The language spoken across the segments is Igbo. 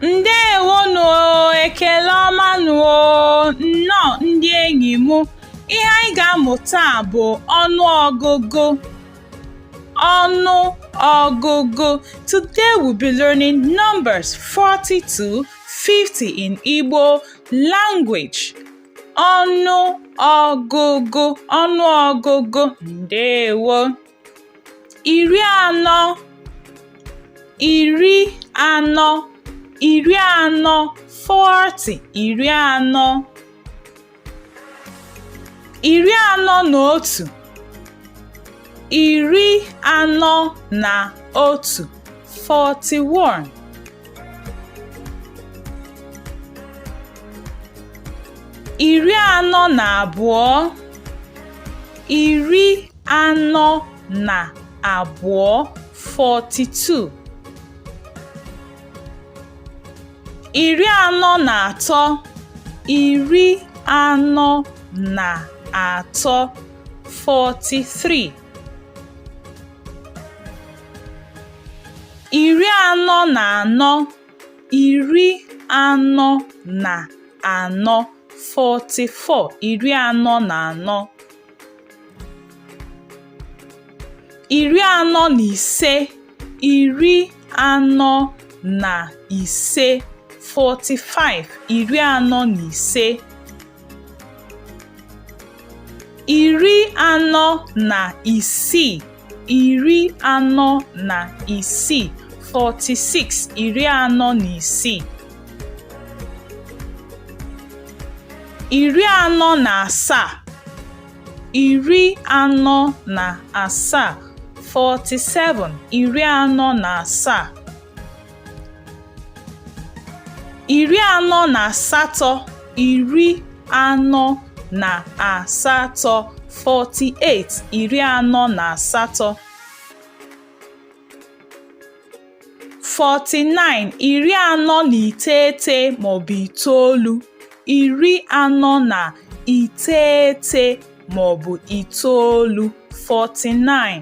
ndewo nụ ekele ọma nụ o nnọọ ndị enyi m ihe anyị ga-amụ taa bụ ọnụ ọgụgụ ọnụ ọgụgụ today we'll be learning numbers 40 to 50 in Igbo language. Ọnụ ọgụgụ ọnụ ọgụgụ ndewo. Iri anọ iri anọ iri anọ 40 iri anọ. iri anọ na otu iri anọ na otu 41 iri anọ na abụọ iri anọ na abụọ 42 iri anọ na atọ iri anọ na atọ 43 iri anọ na anọ iri anọ na anọ 44 iri anọ na anọ iri anọ na ise iri anọ na ise 45 iri anọ na ise iri anọ na isii iri anọ na isii 46 iri anọ na isii iri anọ na asaa iri anọ na asaa 47 iri anọ na asaa iri anọ na asatọ iri anọ na asatọ 48 iri anọ na asatọ 49 iri anọ na iteghete maọbụ itoolu iri anọ na iteghete maọbụ itoolu 49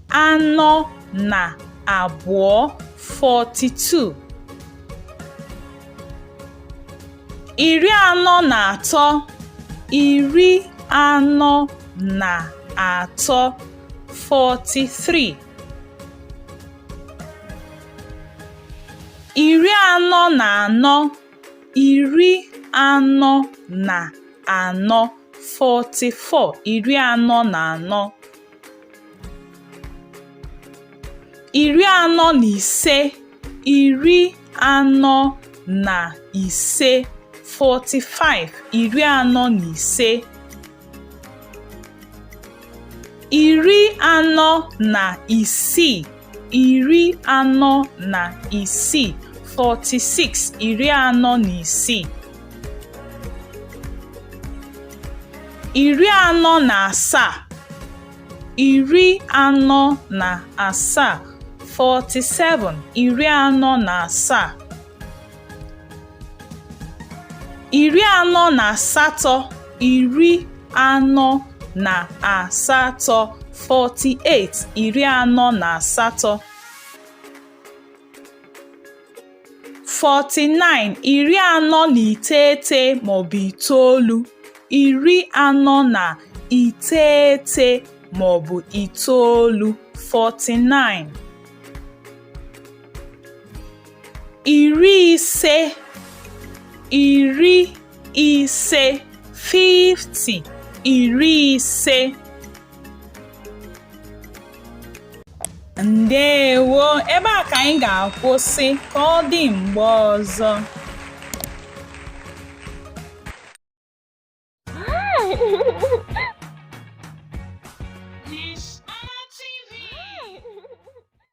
anọ na abụọ 42 iri anọ na atọ iri anọ na atọ 43 iri anọ na anọ iri anọ na anọ 44 iri anọ na anọ iri anọ na ise iri anọ na ise 45 iri anọ na ise iri anọ na isii iri anọ na isii 46 iri anọ na isii iri anọ na asaa iri anọ na asaa 47 iri anọ na asaa iri anọ na asatọ iri anọ na asatọ 48 iri anọ na asatọ 49 iri anọ na iteghete maọbụ itoolu iri anọ na iteghete maọbụ itoolu 49 iri ise iri ise 50 iri ise ndewo ebe a ka anyị ga-akwụsị ka ọ dị mgbe ọzọ